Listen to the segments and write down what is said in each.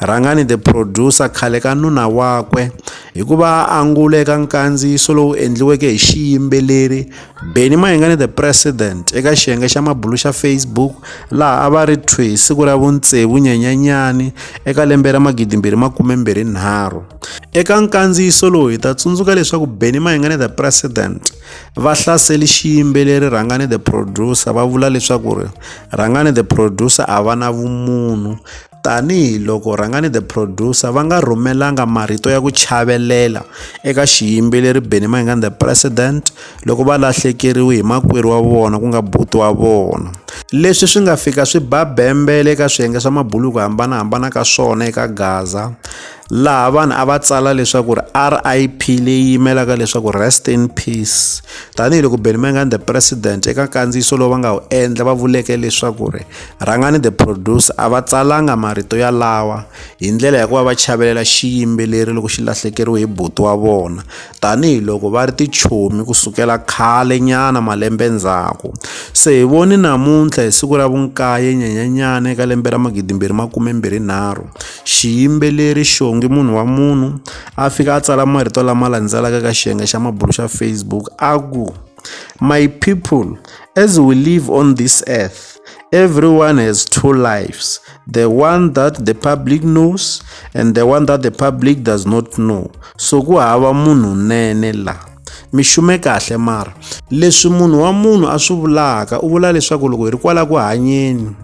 Rhangani the producer khale ka nuna wakwe hi ku va a angula eka nkandziyiso lowu endliweke hi xiyimbeleri Benny Mayengani the President eka xiyenge xa mabulu xa Facebook laha a va ri thwi hi siku ra vuntsevu Nyenyanyani eka lembe ra magidimbirhi makumembirhi nharhu. Eka nkandziyiso lowu hi ta tsundzuka leswaku Benny Mayengani the President va hlaseli xiyimbeleri Rhangani the Producer va vula leswaku ri Rhangani the Producer a va na vumunhu Tanihi loko Rhangani the Producer va nga rhumelanga marito ya ku chavelela eka xiyimbeleri Benny Mayengani the President loko va lahlekeriwe hi makwerhu wa vona ku nga buti wa vona. Leswi swi nga fika swi ba bembele eka swiyenge swa mabulu hi ku hambanahambana ka swona eka Gaza. laha vanhu a va tsala leswaku ri rip leyi yimelaka leswaku rest in peace tanihiloko benmangan the president eka nkandziyiso lowu va nga wu endla va vuleke leswaku ri rhangani the producer a va tsalanga marito ya lawa hi ndlela ya ku va va chavelela xiyimbeleri loko xi lahlekeriwe hi buti wa vona tanihiloko va ri tichomi ku sukela khale nyana malembe ndzhaku se hi voni namuntlha hi siku ra vunkaye nyanyanyana eka lembe ra magidimbirhi makume mbirhi nharhu xiyimbeleri xongi munhu wa munhu a fika a tsala marito lama landzelaka ka xiyenge xa mabulo xa facebook a ku My people, as we live on this earth, everyone has two lives the one that the public knows and the one that the public does not know. So ku hava munhu nene la mi xume kahle mara leswi munhu wa munhu a swi vulaka u vula leswaku loko hi ri kwala ku hanyeni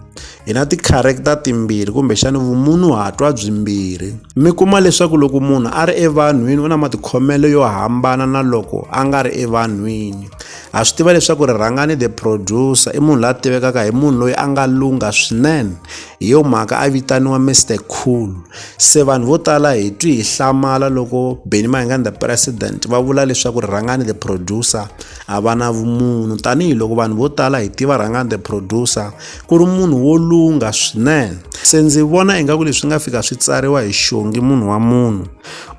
hi na tikharekta timbirhi kumbexana vumunhuhatwa byimbirhi mi kuma leswaku loko munhu a ri evanhwini u na matikhomelo yo hambana na loko a nga ri evanhwini ha swi tiva leswaku rirhangani the producer i munhu la tivekaka hi munhu loyi a nga lungha swinene hi yo mhaka a vitaniwa mr cool se vanhu vo tala hi twi hi hlamala loko benny mahingani the president va vula leswaku rirhangani the producer a va na vumunhu tanihiloko vanhu vo tala hi tiva rhangani the producer ku ri munhu wo lungha swinene se ndzi vona ingaku leswi nga fika swi tsariwa hi xongi munhu wa munhu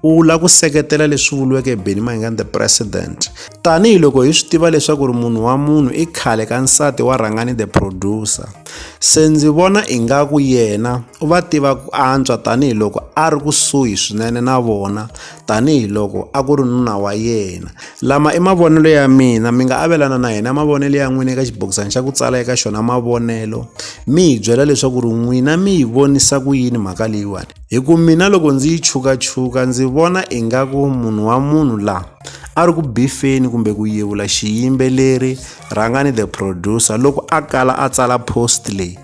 u lava ku seketela leswi vuriweke beni maingani the president tanihiloko hi swi tiva leswaku ri munhu wa munhu i khale ka nsati wa rhangani the producer se ndzi vona ingaku yena u va tiva ku antswa tanihiloko a ri kusuhi swinene na vona tanihiloko a ku ri nuna wa yena lama i mavonelo ya mina mi nga avelana na yena mavonelo ya n'wina eka xibokisana xa ku tsala eka xona mavonelo mi hi byela leswaku ri n'wina mi yi vonisa ku yini mhaka leyiwani hi ku mina loko ndzi yi chukachuka ndzi vona ingaku munhu wa munhu laha a ri ku bifeni kumbe ku yevula xiyimbeleri rhangani the producer loko a kala a tsala post leyi